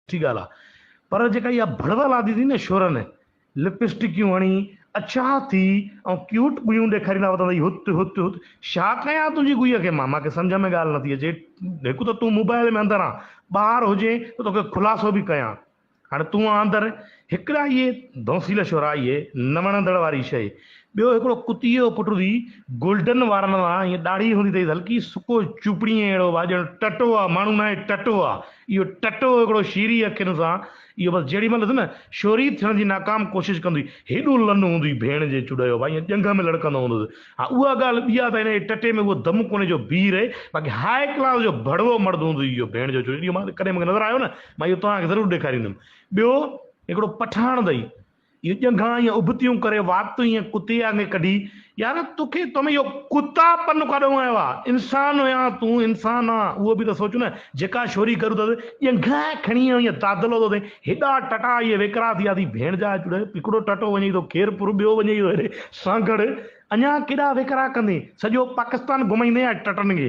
سٺي ڳالهه آ پر جيڪا اها ڀڙوه لاٿي اٿئي نه شورن لپسٽڪيون هڻي اڇا ٿي ۽ ڪيوٽ ڳويون ڏيکاريندا وتن اٿئي هت هت هت شا ڪيان تنهنجي ڳويء کي مان مان کي سمجهه ۾ ڳالهه نٿي اچي هڪ ته تون موبائل ۾ اندر آن ٻاهر هجين ته توکي خلاصو به ڪيان هاڻي تون آن اندر هڪڙا اهي دونسيل شورا اهي نه وڻندڙ واري شيء ٻيو هڪڙو ڪتيء جو پٽ هوندي گولڊن وارن وان ائين ڏاڙهي هوندي اٿئيس هلڪي سڪو چوپڙيء جهڙو ڀاء ڄڻ ٽٽو آ ماڻهو ناهي ٽٽو آ اهو ٽٽو هڪڙو شيري اکين سان اهو بس جهڙي مهل ڏس نه شوري ٿيڻ جي ناڪام ڪوشش ڪندو هئي هيڏو لنو هوندو هئي ڀيڻ جي چڏ جو ڀاء ائين ڄنگهه ۾ لڙڪندو هوندو هوس ها اها ڳالهه ٻي آ ته هن جي ٽٽي ۾ اهو دم ڪونهي جو بيهي رهي باقي هاء ڪلاس جو ڀڙوو مرد هوندو هئي اهو ڀيڻ جو چڏ اهو مان ڪڏهن مون کي نظر آيو نه مان اهو توهان کي ضرور ڏيکاريندم ٻيو هڪڙو پٺاڻ اٿئي اهي ڄنگهان ائين ابتيون ڪري واڪ تون ائين ڪتي آڱي ڪڍي يار توکي تو ۾ اهو ڪتا پن ڪاڏون آيو آ انسان هيان تون انسان آ اهو به ته سوچ نه جيڪا شوري ڪرو ٿس ڄنگهان کڻي ائين دادلو ٿو ٿئين هيڏا ٽٽا اهي ويڪرا ٿي ويا ٿي ڀيڻ جا چڙ هڪڙو ٽٽو وڃي ٿو خير پور ٻيو وڃي ٿو هيڏي سانگهڙ اڃان ڪيڏا ويڪرا ڪندين سڄو پاڪستان گهمائيندين ٽٽن کي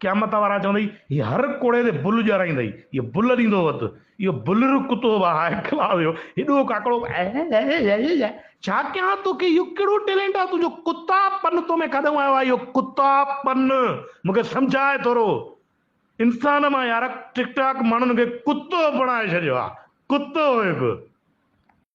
قيامت وارا چوندئي، هي هر ڪوڙي تي بل ڄارائيندئي، هيء بل ڏيندو وت، اهو بلر ڪتو به هاء کلاء ويو، هيڏو ڪاڪڙو ڪيائين، ڇا ڪيان توکي، اهو ڪهڙو ٽيلينٽ آهي تنهنجو، ڪتا پن تو ۾ ڪاڏانهون آيو آهي اهو ڪتا پن، مون کي سمجهاء ٿورو، انسان مان يارڪ ٽڪ ٽاڪ ماڻهن کي ڪتو بڻائي ڇڏيو آهي، ڪتو هيڪ.